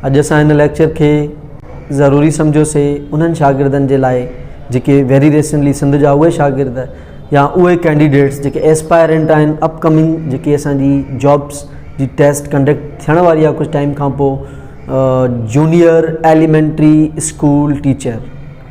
اڄ اسان هن ليڪچر کي ضروري سمجهيو سي انهن شاگردن جي لاء جيڪي ويري ريسنٽلي سنڌ جا اهي شاگرد يا اهي ڪينڊيڊيٽس جيڪي ايسپائرنٽ آهن اپ ڪمنگ جيڪي اسان جي جابس جي ٽيسٽ ڪنڊڪٽ ٿيڻ واري آهي ڪجهه ٽائيم کان پوء junior elementary school teacher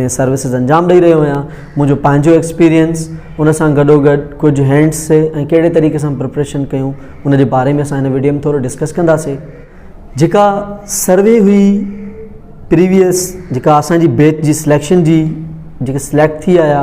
۾ services انجام ڏئي رهيو آهيان منهنجو پنهنجو ايڪسپيرينس ان سان گڏوگڏ ڪجهه هينٽس سي ۽ ڪهڙي طريقي سان پرپريشن ڪيون ان جي باري ۾ اسان هن ويڊيو ۾ ٿورو ڊسڪس ڪنداسي جيڪا سروي هئي پريويس جيڪا اسانجي بيچ جي سليڪشن جي جيڪي سليڪٽ ٿي آيا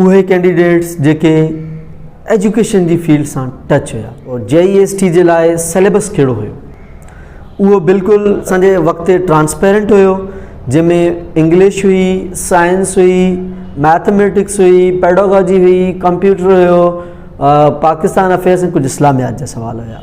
اهي ڪينڊيڊيٽس جيڪي ايجوڪيشن جي فيلڊ سان ٽچ هيا اور جي اي ايس ٽي جي لاء سليبس ڪهڙو هيو اهو بلڪل اسان جي وقت ٽرانسپيرنٽ هيو جنهن ۾ انگلش هئي سائنس هئي ميٿميٽڪس هئي پيڊاگاجي هئي ڪمپيوٽر هيو پاڪستان افيئرس ۽ ڪجهه اسلاميات جا سوال هيا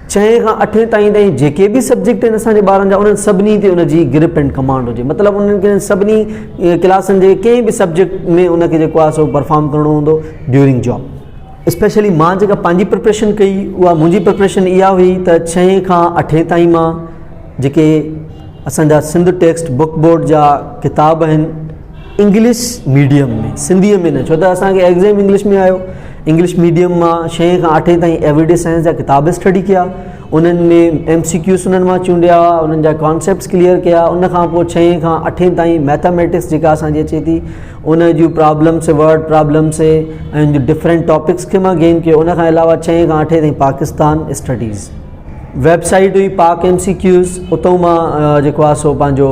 ڇهين کان اٺين تائين تائين جيڪي به سبجيڪٽ آهن اسان جي ٻارن جا انهن سڀني تي ان جي گرپ اينڊ ڪمانڊ هجي مطلب انهن کي سڀني ڪلاسن جي ڪنهن به سبجيڪٽ ۾ ان کي جيڪو آهي سو پرفارم ڪرڻو هوندو ڊيورنگ جاب اسپيشلي مان جيڪا پنهنجي پرپريشن ڪئي اها منهنجي پرپريشن اها هئي ته ڇهين کان اٺين تائين مان جيڪي اسان جا سنڌ ٽيڪسٽ بڪ بورڊ جا ڪتاب آهن انگلش ميڊيم ۾ سنڌي ۾ نه ڇو ته اسان کي ايگزام انگلش ۾ آيو انگلش ميڊيم مان شئين کان آٺين تائين ايوريڊي سائنس جا ڪتاب اسٽڊي ڪيا انهن ۾ ايم سي ڪيوز انهن مان چونڊيا انهن جا ڪانسيپٽس ڪليئر ڪيا ان کان پوء ڇهين کان اٺين تائين ميٿامیٹکس جيڪا اسانجي اچي ٿي ان جون پرابلمس ورڊ پرابلمس ۽ جو ڊفرنٹ ٽاپڪس کي مان گين ڪيو ان کان علاوه ڇهين کان اٺين تائين پاڪستان اسٽڊيز ويب سائيٽ هئي پاڪ ايم سي ڪيوز اتو مان جيڪو آسو پنهنجو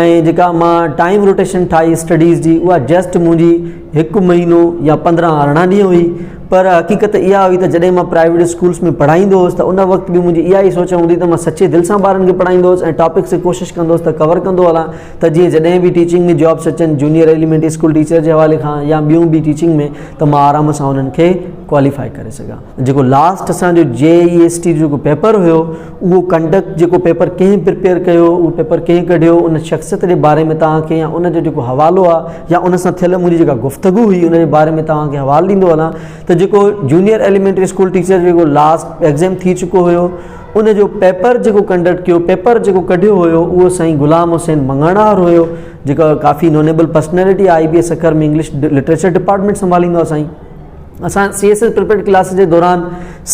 ۽ جيڪا مان ٽائيم روٽيشن ٺاهي اسٽڊيز جي اها جسٽ منهنجي هڪ مهينو يا پندرهن ارڙهن ڏينهن هئي پر حقيقت اها هئي ته جڏهن مان پرائيويٽ اسڪولس ۾ پڙهائيندو هوس ته ان وقت به منهنجي اها ئي سوچ هوندي ته مان سچي دل سان ٻارن کي پڙهائيندو هوس ۽ ٽاپڪس کي ڪوشش ڪندو هوس ته ڪور ڪندو هلان ته جيئن جڏهن به ٽيچنگ ۾ جابس اچن جونيئر ايليمينٽري اسڪول ٽيچر جي حوالي کان يا ٻيون به ٽيچنگ ۾ ته مان آرام سان انهن کي ڪواليفائي ڪري سگهان جيڪو لاسٽ اسان جو جي اي ايس ٽي جو جيڪو پيپر هيو اهو ڪنڊڪٽ جيڪو پيپر ڪنهن پرپيئر ڪيو اهو پيپر ڪنهن ڪڍيو ان شخصيت جي باري ۾ توهان کي يا ان جو جيڪو حوالو آ يا ان سان ٿيل منهنجي جيڪا گفتگو هئي ان جي باري ۾ توهان کي حوالو ڏيندو هلان ته جيڪو جونيئر ايليمينٽري اسڪول ٽيچر جيڪو لاسٽ ايگزيم ٿي چڪو هيو ان جو پيپر جيڪو ڪنڊڪٽ ڪيو پيپر جيڪو ڪڍيو هيو اهو سائين غلام حسين مڱڻهار هيو جيڪا ڪافي knowable personality I B A Sukkur ۾ English literature department سنڀاليندو آ سائين اسان C S S prepared class جي دوران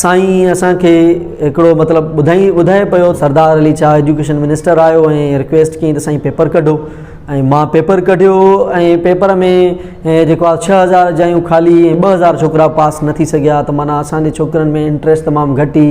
سائين اسان کي هڪڙو مطلب ٻڌائي ٻڌائي پيو سردار علي شاهه ايجوڪيشن منسٽر آيو ۽ رڪويسٽ ڪيائين ته سائين پيپر ڪڍو ۽ مان پيپر ڪڍيو ۽ پيپر ۾ جيڪو آهي ڇهه هزار جايون خالي ٻه هزار ڇوڪرا پاس نه ٿي سگهيا ته معنيٰ اسانجي ڇوڪرن ۾ انٽريسٽ تمام گهٽ هئي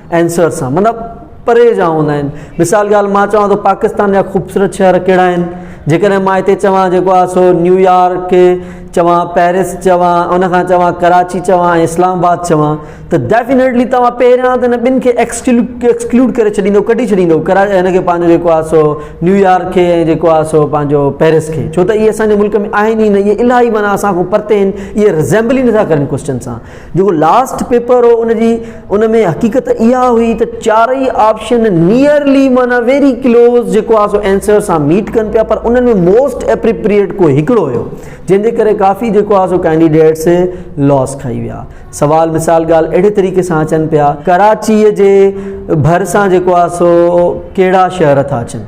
عنصر سان معنيٰ پري جا هوندا آهن. مثال ڳالهه مان چوان ته پاڪستان جا خوبصورت شهر ڪهڙا آهن؟ جيڪڏهن مان هتي چوان جيڪو آهي سو نيويارڪ چوان، پئرس چوان، ان کان چوان ڪراچي چوان ۽ اسلام آباد چوان ته ڊيفينيٽلي توهان پهريان ته هن ٻن کي ايڪسڪلوڊ ڪري ڇڏيندو ڪڍي ڇڏيندو ان کي پنهنجو جيڪو آهي سو نيويارڪ کي ۽ جيڪو آهي سو پنهنجو پئرس کي ڇو ته اهي اسان جي ملڪ ۾ آهن ئي نه اهي الاهي معنيٰ اسان کان پرتي آهن اهي رزيمبل ئي نٿا ڪرن ڪوسچن سان. جيڪو لاسٽ پيپر هو ان جي ان ۾ حقيقت اها هئي ته چارئي آپشن نيئرلي معنيٰ ويري ڪلوز جيڪو آهي سو آنسر سان ميٽ ڪن پيا پر انهن ۾ موسٽ اپريپريئيٽ ڪو هڪڙو هيو جنهن جي ڪري ڪافي جيڪو آهي سو ڪينڊيڊيٽس لاس کائي ويا سوال مثال ڳالهه اهڙي طريقي سان اچن پيا ڪراچيء جي ڀرسان جيڪو آهي سو ڪهڙا شهر ٿا اچن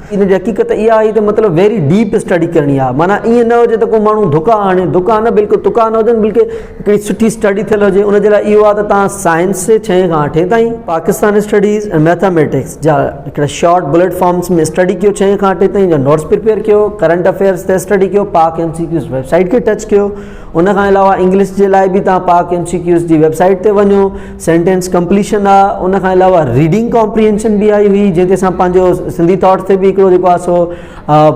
ان جي حقيقت اها آهي ته مطلب ويري ڊيپ اسٽڊي ڪرڻي آهي معنيٰ ائين نه هجي ته ڪو ماڻهو ڌڪا آڻي ڌڪا نه بلڪل تڪا نه هجن بلڪل هڪڙي سٺي اسٽڊي ٿيل هجي ان جي لاء اهو آهي ته تان سائنس جي ڇهين کان اٺين تائين پاڪستان اسٽڊيز ۽ ميٿاميٽڪس جا هڪڙا شارٽ بليٽ فارمس ۾ اسٽڊي ڪيو ڇهين کان اٺين تائين جا نوٽس پريپيئر ڪيو ڪرنٽ افيئرس تي اسٽڊي ڪيو Pak M C Qs web site کي ٽچ ڪيو ان کان علاوه انگلش جي لاء به تان پاڪ ايم سي ڪيوز جي ويب سائيٽ تي وڃو سينٽينس ڪمپليشن آ ان کان علاوه ريڊنگ ڪامپريهنشن به آئي هئي جنهن تي اسان پنهنجو سنڌي ٿاٽ تي به هڪڙو جيڪو آ سو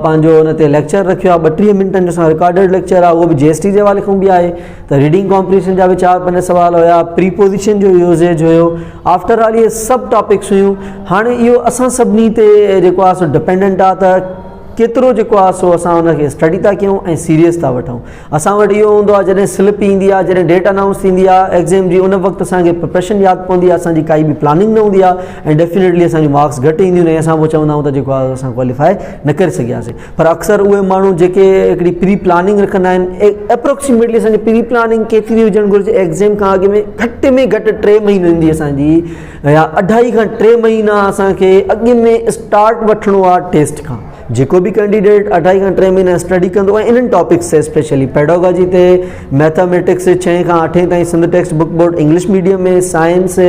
پنهنجو ان تي ليڪچر رکيو آ ٻٽيهه منٽن جو اسان رڪارڊيڊ ليڪچر آ اهو به جي ايس ٽي جي حوالي کان به آهي ته ريڊنگ ڪامپريهنشن جا به چار پنج سوال هيا پري پوزيشن جو يوزيج هيو آفٽر آل اهي سڀ ٽاپڪس هيون هاڻي اهو اسان سڀني تي جيڪو آ سو ڊپينڊنٽ آ ته ڪيترو جيڪو آ سو اسان ان کي اسٽڊي ٿا ڪيون ۽ سيريس ٿا وٺون اسان وٽ اهو هوندو آهي جڏهن سلپ ايندي آهي جڏهن ڊيٽ انائونس ٿيندي آهي ايگزيم جي ان وقت اسان کي پرپريشن ياد پوندي آهي اسان جي ڪائي به پلاننگ نه هوندي آهي ۽ ڊيفينيٽلي اسان جي مارڪس گهٽ اينديون آهن اسان پوء چوندا آهيون ته جيڪو آهي اسان ڪواليفائي نه ڪري سگهياسين پر اڪثر اهي ماڻهو جيڪي هڪڙي پري پلاننگ رکندا آهن اپروڪسيميٽلي اسان جي پري پلاننگ ڪيتري هجڻ گهرجي ايگزيم کان اڳ ۾ گهٽ ۾ گهٽ ٽي مهينو ايندي اسان جي يا اڍائي کان ٽي مهينا اسان کي اڳ ۾ اسٽارٽ وٺڻو آهي ٽيسٽ کان جيڪو به ڪينڊيڊيٽ اڍائي کان ٽي مهينا اسٽڊي ڪندو ۽ انهن ٽاپڪس تي اسپيشلي پيڊاگاجي تي ميٿاميٽڪس ڇهين کان اٺين تائين Sindh text book board English medium ۾ science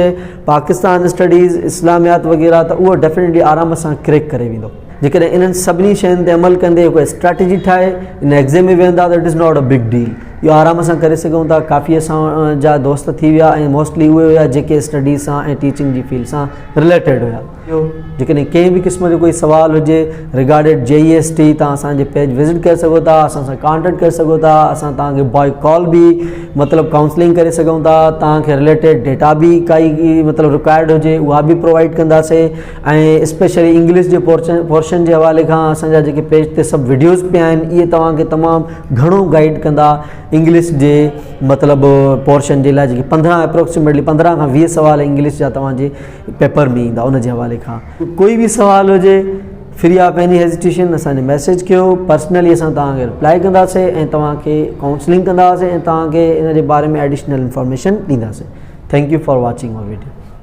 Pakistan studies Islamiat وغيره ته اهو ڊيفينيٽلي آرام سان ڪريڪ ڪري ويندو جيڪڏهن انهن سڀني شين تي عمل ڪندي هڪ اسٽريٽجي ٺاهي ان ايگزيم ۾ ويهندا ته it is not a big deal اهو آرام سان ڪري سگهون ٿا ڪافي اسان جا دوست ٿي ويا ۽ موسٽلي اهي هيا جيڪي اسٽڊي سان ۽ ٽيچنگ جي فيلڊ سان رليٽيڊ هيا ٿيو جيڪڏهن ڪنهن به قسم جو ڪوئي سوال هجي ريگارڊيڊ جي اي ايس ٽي تان اسان جي پيج وزٽ ڪري سگهو ٿا اسان سان ڪانٽيڪٽ ڪري سگهو ٿا اسان تان کي بائي ڪال به مطلب ڪائونسلنگ ڪري سگهون ٿا تان کي ريليٽيڊ ڊيٽا به ڪائي مطلب رڪوائرڊ هجي اها به پرووائيڊ ڪنداسي ۽ اسپيشلي انگلش جي پورشن پورشن جي حوالي کان اسان جا جيڪي پيج تي سڀ ويڊيوز پيا آهن اهي توهان کي تمام گهڻو گائيڊ ڪندا انگلش جي مطلب پورشن جي لاء جيڪي پندرهن اپروڪسيميٽلي پندرهن کان ويهه سوال انگلش جا توهان جي پيپر ۾ ايندا ان جي حوالي کان ڪوئي به سوال هجي فري آف ايني هيزيٽيشن اسان کي ميسج ڪيو پرسنلي اسان توهان کي رپلائي ڪنداسي ۽ توهان کي ڪائونسلنگ ڪنداسي ۽ توهان کي ان جي باري ۾ ايڊيشنل انفارميشن ڏينداسي thank you for watching our video